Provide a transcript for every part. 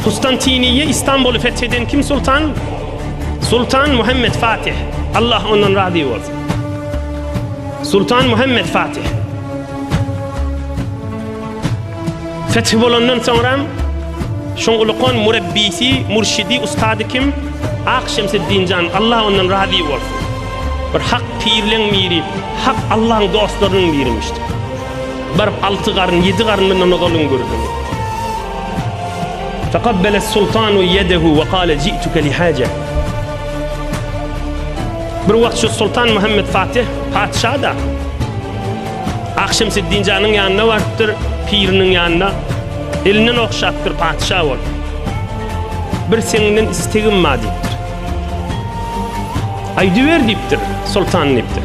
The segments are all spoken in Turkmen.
Kustantiniýe Istanbuly feth eden kim sultan? Sultan Muhammed Fatih. Allah ondan razy bolsun. Sultan Muhammed Fatih. Feth bolandan soňra şoň ulukon murebbisi, murşidi, ustady kim? Ak Şemseddin jan, Allah ondan razy bolsun. Bir hak pirleň miri, hak Allah'ın dostlarynyň birimişdi. Baryp alty garyn, ýedi garyn mundan ozal üňgürdiňiz. Fakabbele sultanu yedehu ve kale ji'tuke li hace. Bir wagt şu Sultan Muhammed Fatih patyşa da Akşam Siddinjanyň ýanyna barypdyr, piriniň ýanyna. Elinden okşapdyr patyşa bol. Bir seninden istegim bar diýipdir. Aýdyber diýipdir, sultan diýipdir.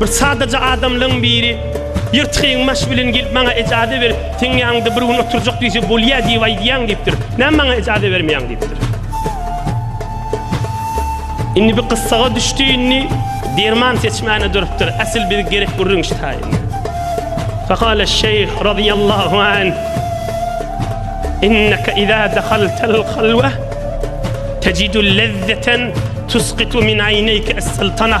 Bir sadaja adamlaň biri ýyrtygyň maş bilen gelip maňa ejaze berip, seň ýanyňda bir gün oturjak diýse bolýa diýip aýdýaň diýipdir. Näme maňa ejaze bermeýäň diýipdir. Indi bir gyssaga düşdi indi derman seçmäne durupdyr. Asyl biz gerek gürrüň ştaýyn. Fakala şeýh radiyallahu an İnneke iza dahaltel halwa tecidul lezzeten tusqitu min ayneyke es-sultana.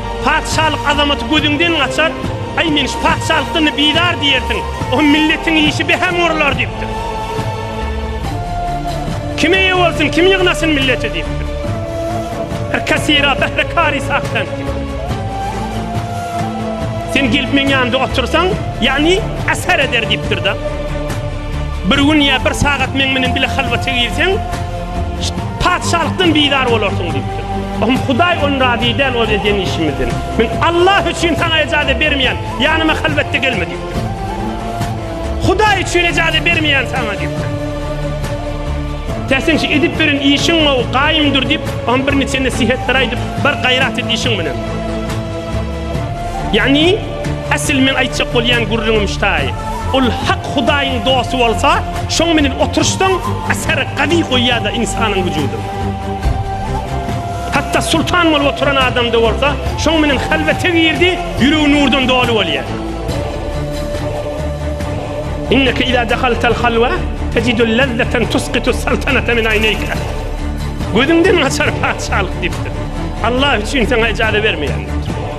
Patyşalyk azamaty gözüňden gaçar, Aý, men şu patyşalykdan-da bizar diýersiň, o milletiň işi behä murlar diýipdir. Kim eýe bolsun, kim ýygnasyn milleti diýipdir. Her kasira behre kari sahtan diýip. Sen gelip meň ýanymda otursaň, ýagny asar eder diýipdir-de. Bir gün ýa bir sagat meň bilen bile halwata girseň, Patyşalykdan bizar bolarsyň diýipdir. Ohm Hudaý on razy däl ol edýän işimizden. Men Allah üçin saňa ejaze bermeýän, ýanyma halwetde gelme diýipdir. Hudaý üçin ejaze bermeýän saňa diýipdir. Täsin şu edip beren işiň gowy, gaýym dur diýip, ohm bir niçe nesihetler aýdyp, bir gaýrat et işiň bilen. Ýagny Asyl meň aýtjak bolýan gürrüňim ştaý. Ol hak Hudaýyň dosty bolsa, şoň menen oturyşsaň, asyr gazy goýýar-da ynsanyň wüjudynda. Hatda sultan bolup oturan adamda bolsa, şoň menen halwete girdi, ýüregi nurdan doly bolýar. Inneke iza dahaltal halwa tejidul lazzatan tusqitus saltanata min aýneýka. Gözüňden gaçar patyşalyk diýipdir. Allah üçin saňa ejaza bermeýär.